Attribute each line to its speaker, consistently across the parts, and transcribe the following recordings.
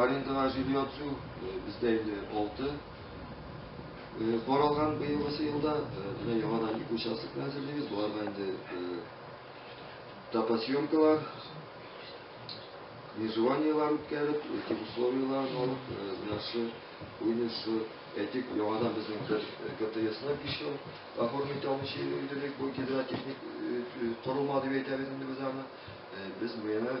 Speaker 1: Арендага җир яту бездә инде алты каралган быелгысы елда. Менә яңадан ике участокны әзерлибез. Боларга инде топосъемкалар, межеваниелар үткәреп, этик условиялар алып, менә шу уйны шу этик яңадан безнең бер КТСны еще оформить алмыйча йөрдек, бу гидротехник корылма дип әйтәбез инде без аны. Без менә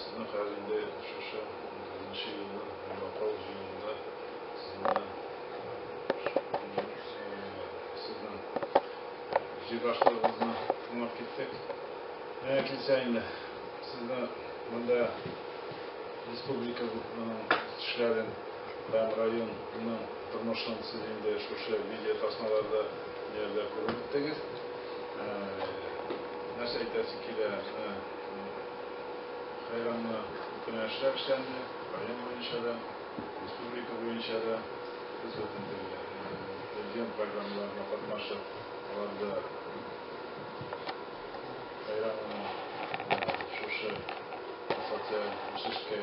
Speaker 2: Сезнең хәл инде шушы унтугызынчы елны Йомакау җыенында сезне сезнең җыйбашлыгыгызны тыңлап киттек. Менә килсә инде сезне монда республиканың үсешләрен һәм районның тормышын сез инде шушы видеотасмаларда Ниләрдер күреп беттегез. Нәрсә әйтәсе килә, менә хәйранны үткән эшләр эшләнде, район буенча да, республика буенча да без бөтен телгә. Президент программаларына катнашып, аларда хәйранны шушы социаль үсешкә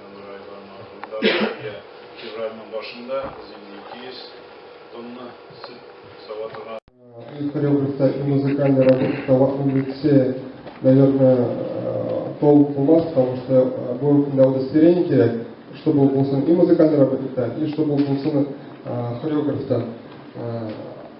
Speaker 2: Яңгыр айларын ахырында безгә февральнең башында без инде 200 тонна сөт сава торган. Ил
Speaker 3: хореографта и музыкальный работник Таллатның егете, наверное, толк булмас, потому что бу көндә удостоверение кирәк, чтобы ул булсын и музыкальный работниктан, и чтобы ул булсын хореографтан.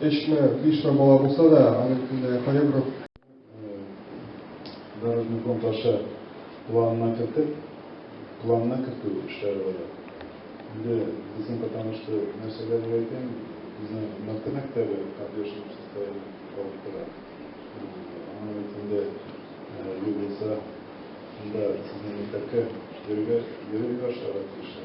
Speaker 3: Өчме, бишме бала булса да, аның өстендә хореограф.
Speaker 2: Дорожный фонд аша планына кертеп, планына кертү эшләре бара. Инде безнең потому что нәрсәләр әйтәм, безнең Мәктәп мәктәбе поддержка состояние алып тора. Аның өстендә юл булса, анда сезнең мәктәпкә йөрергә йөрергә башларга тиешләр.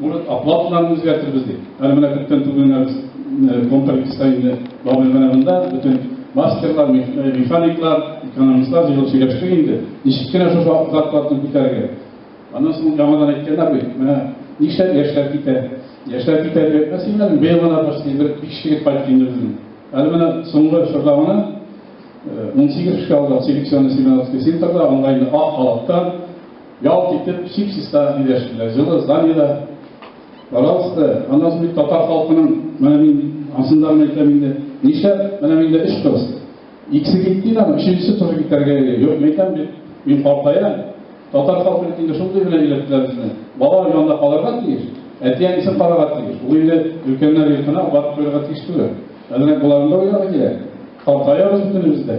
Speaker 4: Может, оплаталарны үзгәртербез дип. Әле менә күптән түгел генә без э, контрактиста инде Бабел менә монда бөтен мастерлар, э, механиклар, экономистлар җыелып сөйләштек инде. Ничек кенә шушы зарплатаны күтәрергә. Аннан соң яңадан әйткәннәр бит, менә нишләп яшьләр китә? Яшьләр китә дип әйтмәс инде, быел гына почти бер биш егет кайтты инде безнең. Әле менә соңгы чорда гына 18 э, кеше алды селекционный семинар центрда, онлайн ак халатта Ялт итеп сипсис та диләште. Җылы Залида, пожалуйста, аны ул бит татар халкының, менә мин ансын да гына әйтәм инде, нишләп менә миндә өч кыз? Икесе китте инде, өченчесе туры китәргә йөри. Юк, мин әйтәм бит, мин картаям. Татар халкы бит инде шундый гына өйрәттеләр безне. Бала янында калырга тиеш, әти-әнисен карарга тиеш. Ул инде өлкәннәр йортына барып куярга тиеш түгел. Әзрәк боларны да уйларга кирәк. Картаябыз бөтенебез дә.